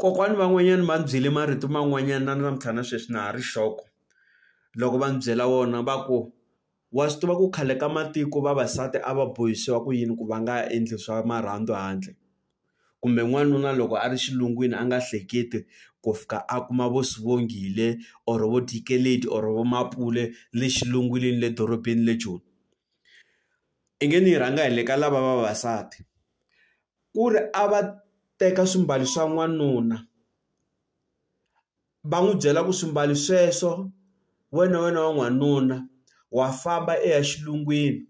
Kokwani van'wanyani va ni byele marito man'wanyani na namuntlha na sweswi na ha ri shock loko va ni byela wona va ku wa swi tiva ku khale ka matiko vavasati a va bohisiwa ku yini ku va nga endli swa marhandzu handle kumbe n'wanuna loko a ri xilungwini a nga hleketi ku fika a kuma vo swivongile or vo dikeledi or vo mampule le xilungwini le dorobeni le joni i nge ni yi rhanga hi le ka lava vavasati ku ri a va teka swimbalo swa n'wanuna va n'wi byela ku swimbalo sweswo wena wena wa n'wanuna wa famba i ya xilungwini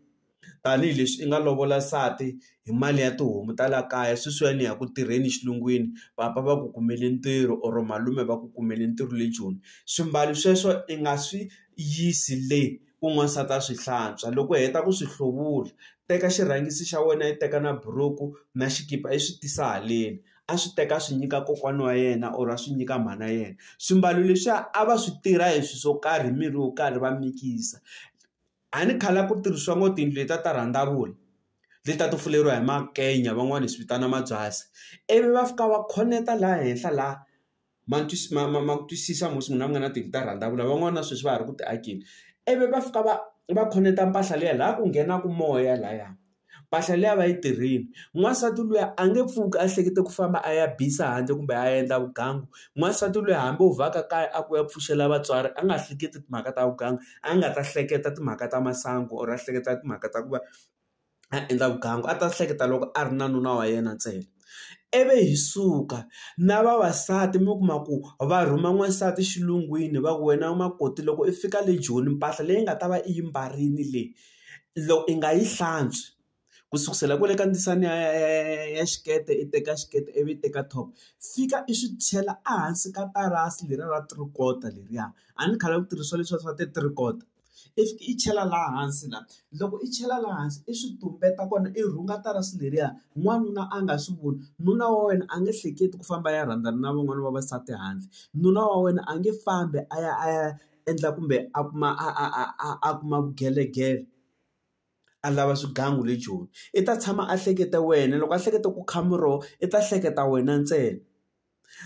tanihileswi i nga lovola nsati hi mali ya tihomu ta la kaya sweswiwani ni ya ku tirheni xilungwini papa va ku kumele ntirho or malume va ku kumele ntirho le joni swimbalo sweswo i nga swi yisi le ku n'wansati a swi hlantswa loko u heta ku swi hluvula teka xirhangisi xa wena i teka na buruku na xikipa i swi tisa haleni a swi teka a swi nyika kokwana wa yena or a swi nyika mhana yena swimbalo leswiya a va swi tirha hi swi swo karhi hi mirhi yo karhi va mikisa a ni khale a ku tirhisiwa ngo tiyindlu letiya ta rhandavula letiya to fuleriwa hi makenya van'wani hi swi vitana mabyasi ivi va fika va khoneketa laha henhla laha ma ma ma ma twisisa musi munhu a nga na tihunyi ta rhandzavula van'wana na sweswi va ha ri ku ti akeni ivi va fika va va khoneketa mpahla liya laha ku nghenaka moya lahaya mpahla liya va yi tirhile n'wansati luya a nge pfuki a hlekete ku famba a ya bisa handle kumbe a endla vugangu n'wansati luya hambi o vhaka kaya a ku ya pfuxela vatswari a nga hleketi timhaka ta vugangu a nga ta hleketa timhaka ta masangu or a hleketa timhaka ta ku va a endla vugangu a ta hleketa loko a ri na nuna wa yena ntsena ivi hi suka na vavasati mi kuma ku va rhuma n'wansati xilungwini va ku wena makoti loko i fika le joni mpahla leyi nga ta va i yi mbarile leyi loko i nga yi hlantswi ku sukusela kwale ka ndzisana ya ya ya ya xikete i teka xikete ivi i teka top fika i swi chela ehansi ka tarasi leriya ra three quarter leriya a ni khale ku tirhisiwa leswiya swa ti-three quarter. i fiki i chela laha hansi la loko i chela laha hansi i swi tumbeta kona i rhunga tarasi leriya n'wanuna a nga swi voni nuna wa wena a nge hleketi ku famba a ya rhandzana na van'wana vavasati handle nuna wa wena a nge fambi a ya a ya endla kumbe a kuma a a a a a kuma vugelegele a lava swigangu le joni i ta tshama a hleketa wena loko a hleketa ku kha muroho i ta hleketa wena ntsena.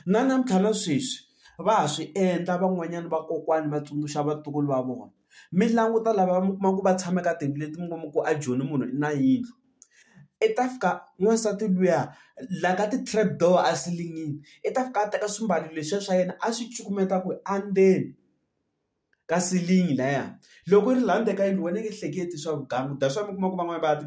Na namuntlha na sweswi va ha swi endla van'wanyana vakokwani va tsundzuxa vatukulu va vona. Mi languta lava mi kuma ku va tshame ka tiyindlu leti mi kuma ku a Joni munhu i na yindlu, i ta fika n'wansati luya la ka ti-trap door a silingini i ta fika a teka swimbalo leswiya swa yena a swi cukumeta ku a ndzeni ka silingi laya. Loko yi ri laha ndzeni ka yindlu wena nge hleketi swa vugangu that's why mi kuma ku van'wani va ya ti .